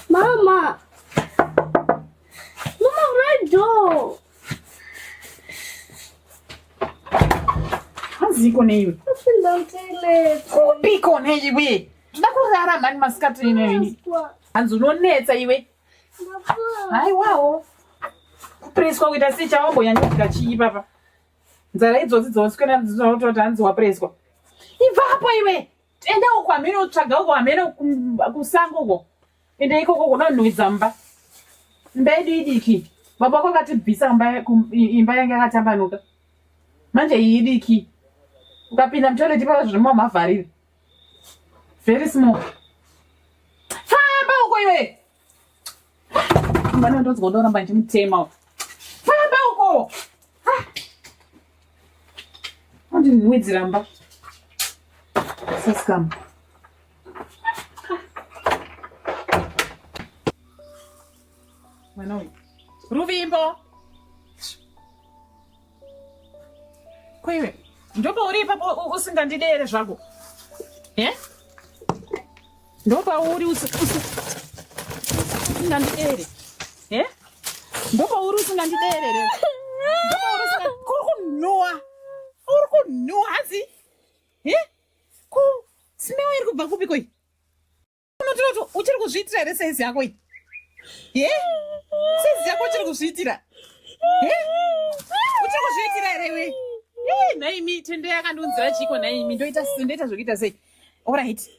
Mama. Mama, right door. Haziko neiwe. Kupinda mtele. Kupiko neiwe. Tida kurara mani masikati ino ini. Hanzi unonetsa iwe. Haiwawo. Kupreswa kuita sei chawamboyanyudzika chii papa? nzara idzodzi dzosikana dzinototi hanzi wapreswa ibvapo iwe enda uko hamene utsvaga uko hamene kusango uko enda ikoko kona unhuwidza mba mba yedu idiki baba wako akatibvisa imba yange yakatambanuka manje iyi idiki ukapinda mutoilet ipava zvirimo mavharire very small famba uko iwe Mwana ndonzwa ndoramba ndichimutema. Famba uko. Andi nwidzi ramba. Saskam. Mwana uyu. Ruvimbo. Koiwe ndopauri ipapo usingandidere zvako e eh? ndopauri usingandidere e eh? ndopauri usingandiderere ndopauri kuri kunhuwa uri kunhuwa hanzi e eh? ku simewa iri kubva kupi koi unotiroti uchiri kuzviitira here saizi yako iyi he saizi yako uchiri kuzviitira he uchiri kuzviitira here iwe nhaimi tende yakandiunzira chiiko nhaimi ndoita ndoita zvekuita sei orit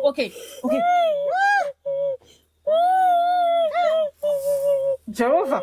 okay okay jehovha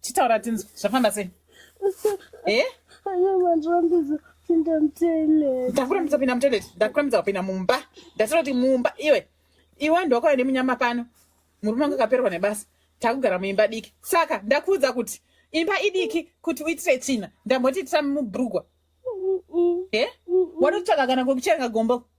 chitaura tinzwa zvafamba sei eh? ndakurambidza kupinda mutoilet ndakurambidza kupinda mumba ndasira kuti mumba iwe iwe ndokauya nemunyama pano murume wangu akaperwa nebasa takugara muimba diki saka ndakuudza kuti imba idiki kuti uitire tsvina ndamboti itira mubrugwa e eh? wanotsvaka kana kwekucherenga gombo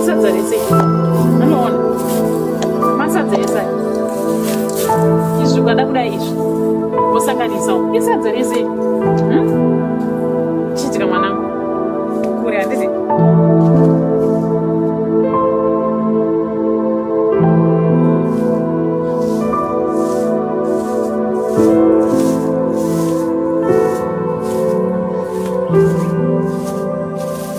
isadza rese anoona masadza ese izvi ukada kudai izvi wosanganisa isadza rese hmm? chiitika mwanangu kure handiti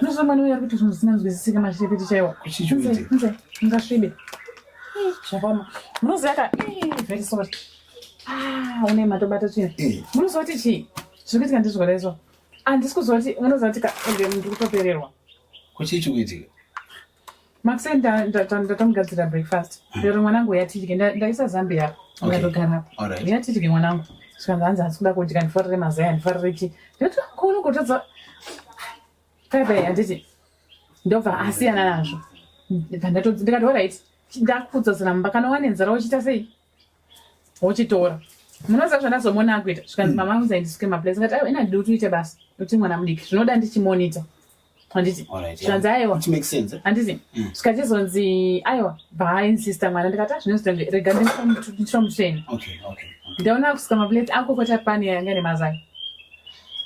Unozwa mwana uya kuti zvinhu zvisina nzwisisike mashiripiti chaiwa. Kuchichuite. Nze, ngasvibe. Zvakoma. Munoziva ka, very sorry. Ah, une matobata chino. Munoziva kuti chii? Zviri kuitika ndizvora izvo. Handisi kuziva kuti munoziva kuti ka, ende ndiri kutopererwa. Kuchichuitika. Makuseni ndatomugadzira breakfast. Lero mwanangu yatidye ndaisa zambi yako. Ngatogara. Yatidye mwanangu. Svanza hanzi asi kuda kudya ndifarire mazai ndifarire chi. Ndati kono kutadza. Bye bye handiti. Ndobva asiyana nazvo. Ndikati all right. Ndakupfudza zina mumba kana wane nzara uchiita sei? wochitora munoziva zvandazomona akuita zvikanzi mama angu zaindisuke maplace ngati aiwa ina duti uite basa kuti mwana mudiki zvinoda ndichimonita handiti zvikanzi aiwa handiti mm. zvikachizonzi aiwa baainsister mwana ndikati azvinozitenge ah, rega ndichiromutreni ndaona akusuka maplace akokota pani yanga ine mazai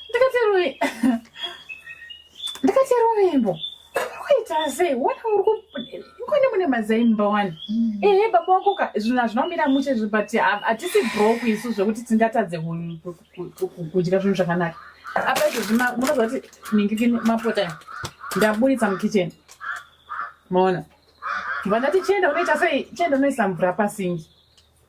ndikati rui ndikati rumimbo kuita sei wona uri kukone mune mazaimba wani mm. ehe baba wako ka zvinhu hazvina kumira mushe zvi but hatisi brok isu zvekuti tingatadze kudya zvinhu zvakanaka apa izvozvi munoziva kuti mingiki mapota ndaburitsa mukitchen maona vana tichienda unoita sei chienda unoisa mvura pasingi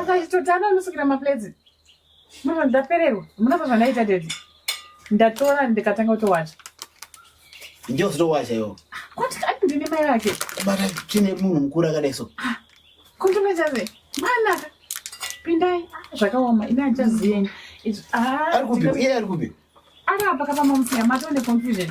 akaitotanga anosukira maplates mama ndapererwa munava zvanaita dedi ndatora ndikatanga kutowacha ndiyo zitowacha iwo kwati ati ndine mai vake kubata chine munhu mukuru akadai so ah, kundimechaze mwana pindai ah, zvakaoma ine achaziyeni ah, ari kupi iye ari kupi ari apa kapamamusiya matone confusion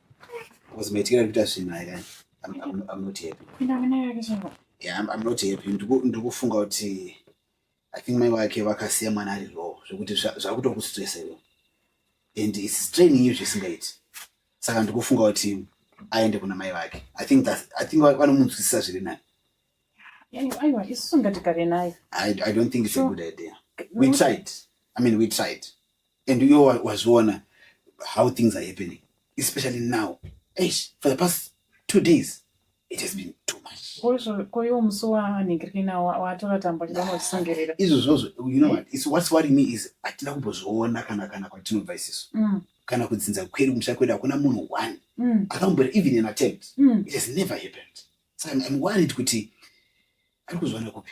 Kuzimaitira kuita zvinhu ayi kani. I'm, I'm, I'm not happy. Pinda mune yake chimbo. Yeah, I'm, I'm not happy. Ndiku- Ndiri kufunga kuti I think mai wake vakasiya mwana ari low zvekuti zva- zvakutokustresa iwe. And it's straining you zvisingaiti. Saka ndiri kufunga kuti aende kuna mai vake. I think that I think va- vanomunzwisisa zviri nani. Yani aiwa isu ngatigare naye. I, I don't think it's a Sure. good idea. We tried. I mean, we tried. and you was wazviona how things are happening especially now Eish, for the past two days it has been too much koiwo musi wanhingirina watora tambo ndinosungerera izvo zvozvo you know what is what's worrying me is hatina kumbozviona kana kana kwatinobva isisu mm. kana kudzinza kwedu musha kwedu hakuna munhu one mm. akambura even an attempt mm. it has never happened so I'm, I'm worried kuti ari kuzviwana kupi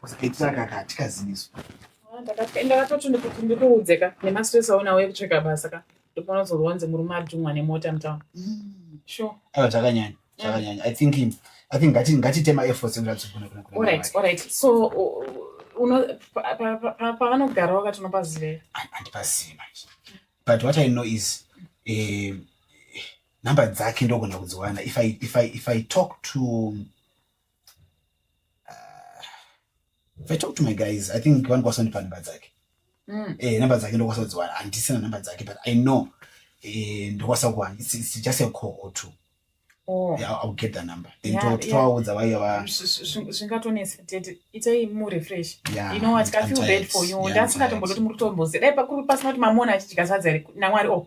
Kusaitaka kati kaziviso. Ndakapenda vatoti ndikuti ndikuudze ka nemastress aona uye kutsvaka basa ka ndopona uzorwa wanzi murume adhumwa nemota mutawa. Sure. Ayo takanyanya takanyanya. I think him. I think ngati ngati tema efforts ndatsigona kuna kuna. All right, all right. So uno pavanogara wakati unopazive? Andipazivi manje. But what I know is eh number dzake ndogona kudziwana if I if I if I talk to If I talk to my guys, I think one person pa number dzake. Mm. Eh, number dzake ndo kwasodzwa andisina number dzake but I know eh ndo kwasakwa it's, it's just a call or two. Oh. Yeah, I'll get the number. Then yeah, to yeah. to why you are zvingatonesa tete itai mu refresh. Yeah, you know what? I feel bad for you. Ndasingatombodoti muri kutombozera. Dai pakuru pasina kuti mamona achichika sadza here. Namwari oh.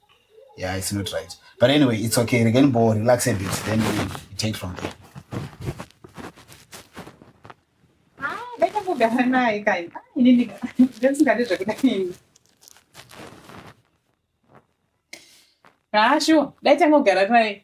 yeah it's not right but anyway it's okay regai ndimbo relax a bit then we take from there kugara naye kai ini ndisingadi zvekuda ini haa shuwa dai tangogara naye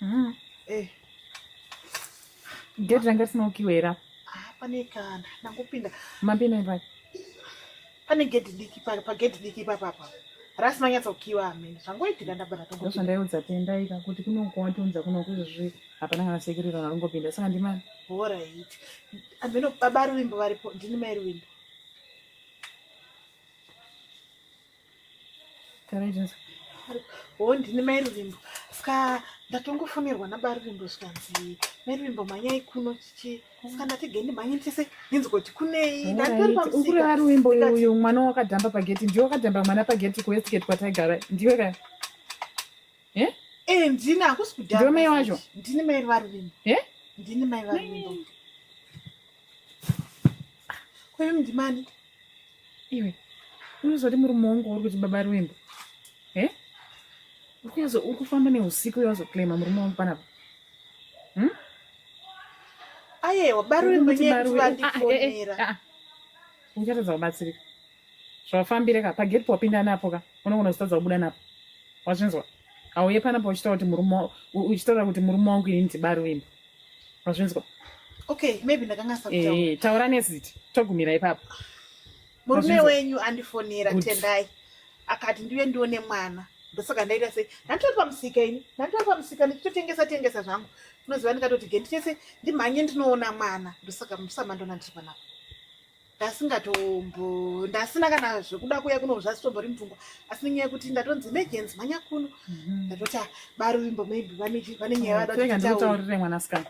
Mm. Eh. Gate ranga risina kukiwa here apa? Ah, pane kana ndakupinda. Mapinda ipai. Pane gate diki pa pa gate diki pa papa. Rasi manyatsa kukiwa amene. Zvangoitika ndabara tongo. Ndosha ndaiudza tenda ika kuti kuno kwatonza kuno kuzvi hapana kana sekirira nalongopinda saka ndimani. All right. Ameno baba Ruwimbo varipo ndini mai Ruwimbo. Oh, ndini mai ruvimbo ska ndatongofonirwa naba ruvimbo zvikanzi mai ruvimbo mhanyai kuno chichi ska ndati gendi mhanye ndise ndinzi kuti kunei ndanditoripamusikureva ruvimbo uyu mwana wakadhamba pageti ndiwe wakadhamba mwana pageti kuwestigate kwataigara ndiwe ka e eh? eh, ndini hakusi kudhamba ndiwe mai wacho ndini mai varuvimbo e eh? ndini mai varuvimbo Kwewe mdimani iwe unozoti murume wangu uri kuti baba ruimbo e eh? ukuyazo uri kufamba neusiku uyazoclaima murume wangu panapa hmm? ayewa baruimbo nyevandifonera ah, ah, eh, eh, ah, uchatadza kubatsirika zvawafambire ka pageti powapinda napo ka unogona kutadza kubuda napo wazvinzwa auye panapa uchitaura kuti murume uchitaura kuti murume wangu ini ndibaruimbo Mazvinzwa? Okay, maybe ndakanga sakutaura. Eh, taura neziti. Togumira ipapo. Murume wenyu andifonera Tendai. Akati ndiwe ndione mwana. Ndosaka ndaita sei? Ndatoa pamusika ini. Ndatoa pamusika ndichitotengesa tengesa zvangu. Unoziva ndikatoti genditese ndimhanye ndinoona mwana. Ndosaka musama ndona ndiri panapa. ndasingatombo ndasina kana zvekuda kuya kuno zvasitombori mupfungwa asi nenyaya yekuti ndatonzi emergency mhanya kuno mhm. ndatoti ah, baruvimbo maybe vane nyaya vadandikutaurire mwanasikana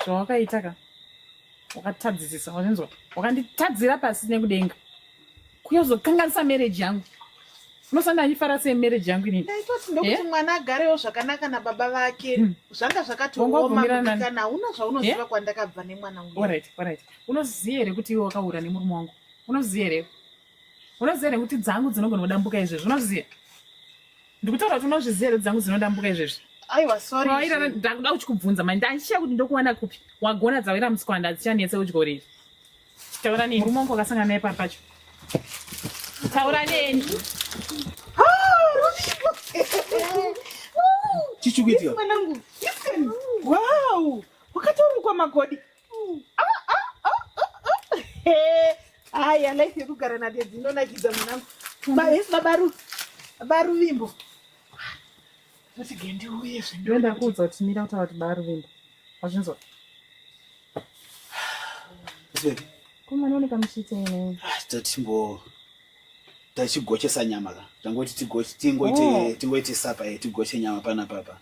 zvawakaita ka wakatadzisisa wazvinzwa wakanditadzira pasi nekudenga kuyozokanganisa marriage yangu unosanda ndifara sei marriage yangu inini ndaitoti ndokuti eh? mwana agarewo zvakanaka nababa vake hmm. zvanga zvakatiomaaana una zvaunoziva eh? kwandakabva nemwana uyu Unoziva here kuti iwe wakahura nemurume wangu? Unoziva here? Unoziva here kuti dzangu dzinogona kudambuka izvezvi? Unoziva? Ndikutaura kuti unozviziva here dzangu dzinodambuka izvezvi? aiwa sorry wairara ndakuda kuchikubvunza manje ndaichiya kuti ndokuwana kupi wagona dzawira musikwanda hadzichanetse udyo riri taura neni murume wangu wakasangana naye pari pacho taura neni chichikuitika mwanangu listen wow wakatorukwa magodi Hai, life yekugara nadedzi inonakidza mwanangu. Yes, baba Ru. Baba Ruvimbo. Kuti gendi uye zvinhu. Ndoenda kuudza kuti mira kutaura kuti baba Ruvimbo. Wazvinzwa? Zvepi? Kuma none kamushite ine. Ah, totimbo tachigochesa nyama ka tangoti tigoche tingoite oh. tingoite sapa eh tigoche nyama pana papa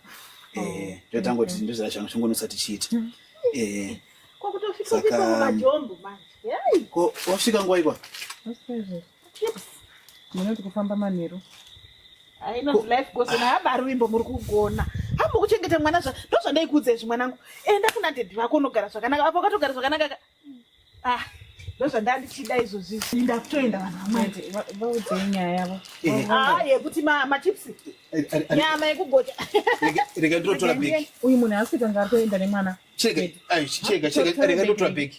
oh. eh ndio tangoti ndio zira changu chungu nosati chiita mm. eh kwa kutofika kwa majombo manje hey ko wafika ngwa ikwa chips mwana tikufamba manero i know life goes on haba ruimbo muri kugona hamba kuchengeta mwana zva ndozvandaikuudza izvi mwanangu enda kuna daddy vako unogara zvakanaka apo katogara zvakanaka Ah, ndozvandandichida izvozvi inda kutoenda vanhuvaudze nyaya yavo eh. ah, yekuti machips eh, eh, nyama yekugocha rega ndotora bheki uyu munhu asi kanga atoenda nemwana chega chega chega rega ndotora bheki